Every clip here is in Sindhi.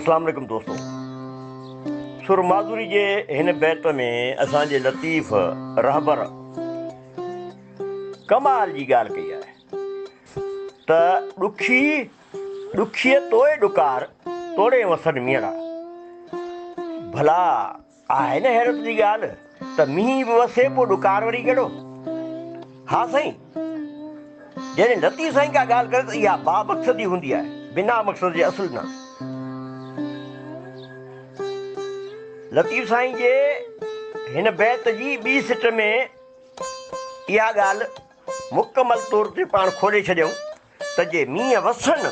اسلام عليڪم دوستو سر ماڌوري جي هن بيت ۾ اسان جي لطيف رهبر ڪمال جي ڳالهه ڪئي آهي ته ڏکي ڏکي توئي ڏڪار توڙي وسن ميڙا ڀلا آهي نه حيرت جي ڳالهه ته مينهن به وسي پوء ڏڪار وري ڪهڙو؟ ها سائين! جڏهن لطيف سائين ڪا ڳالهه ڪري ته اها بامقصدي هوندي آهي، بنا مقصد جي اصل نه. لطيف سائين جي هن بيت جي ٻي سٽ ۾ اها ڳالهه مڪمل طور تي پاڻ کولي ڇڏيائون ته جي مينهن وسن،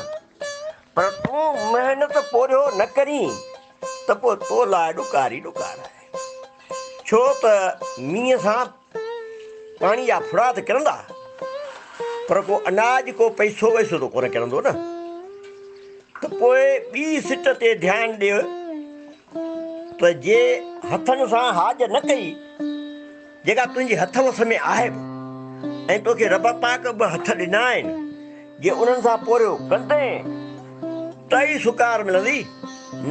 پر تون محنت پورهيو نه ڪرين ته پوء تو لاء ڏڪار ئي ڏڪار آهي. ڇو ته مينهن سان پاڻي جا ڦڙا ته ڪرندا، پر ڪو اناج، ڪو پئسو وئسو ته ڪونه ڪرندو نه. ته پوء ٻي سٽ تي ڌيان ڏي ته جي هٿن سان هاڄ نه ڪئي، جيڪا تنهنجي هٿ وس ۾ آهي به ۽ توکي رب پاڪ ٻه هٿ ڏنا آهن، جي انهن سان پورهيو ڪندين ته ئي سڪار ملندي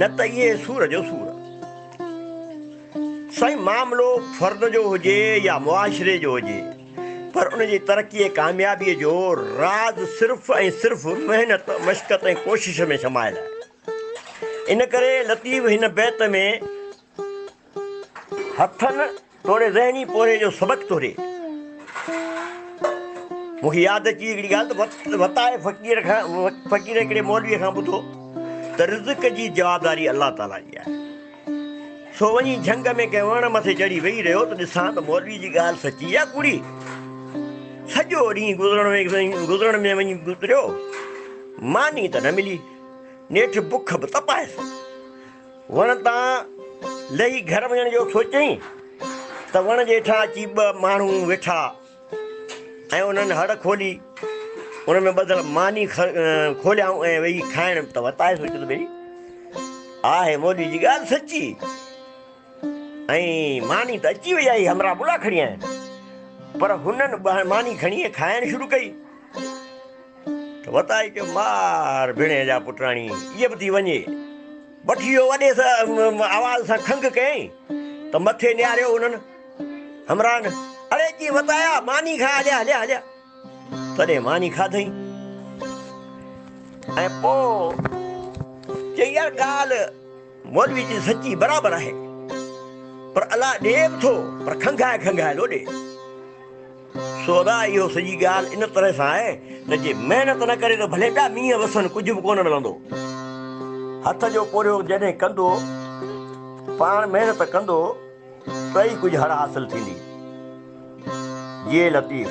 نه ته اهي سور جو سور. سائين معاملو فرد جو هجي يا معاشري جو هجي پر ان جي ترقي ۽ ڪاميابي جو راز صرف ۽ صرف محنت، مشقت ۽ ڪوشش ۾ سمايل آهي. ان ڪري لطيف هن بيت ۾. هٿن توڙي ذهني پورهيي جو سبق توري مون کي ياد اچي هڪڙي ڳالهه ته وتاء فقير کان فقير هڪڙي مولوي کان ٻڌو ته رزق جي جوابداري الله تعاليٰ جي آهي سو وڃي جهنگ ۾ ڪنهن وڻ مٿي چڙهي ويهي رهيو ته ڏسان ته مولوي جي ڳالهه سچي يا ڪوڙي سڄو ڏينهن گذرڻ ۾ گذرڻ ۾ وڃي گذريو ماني ته نه ملي نيٺ بک به تپائس وڻ تان لهي گهر وڃڻ جو سوچيائين ته وڻ جي هيٺان اچي ٻه ماڻهو ويٺا ۽ انهن هڙ کولي ان ۾ ٻڌل ماني کوليائون ۽ ويهي کائڻ ته وتايو سوچيو ته ڀئي آهي مولوي جي ڳالهه سچي ۽ ماني ته اچي وئي آهي همراهه بلا کڻي آيا آهن پر هنن ماني کڻي کائڻ شروع ڪئي ته وتائي ڪيو مار ڀيڻيء جا پٽراڻي ايء به ٿي وڃي. بٺيو وڏي آواز سان کنگهه ڪيائين ته مٿي نهاريو انهن همراهن، اڙي ڪي وتايا ماني کاء هليا هليا هليا. تڏهن ماني کاڌئين ۽ پوء چيائين يار ڳالهه مولوي جي سچي برابر آهي پر الله ڏي به ٿو پر کنگهائي کنگهائي لوڏي. سودا اهو سڄي ڳالهه ان طرح سان آهي ته جي محنت نه ڪري ته ڀلي ٻيا مينهن وسن ڪجهه به ڪونه ملندو. هٿ جو پورهيو جڏهن ڪندو، پاڻ محنت ڪندو ته ئي ڪجهه هڙ حاصل ٿيندي. جيئي لطيف.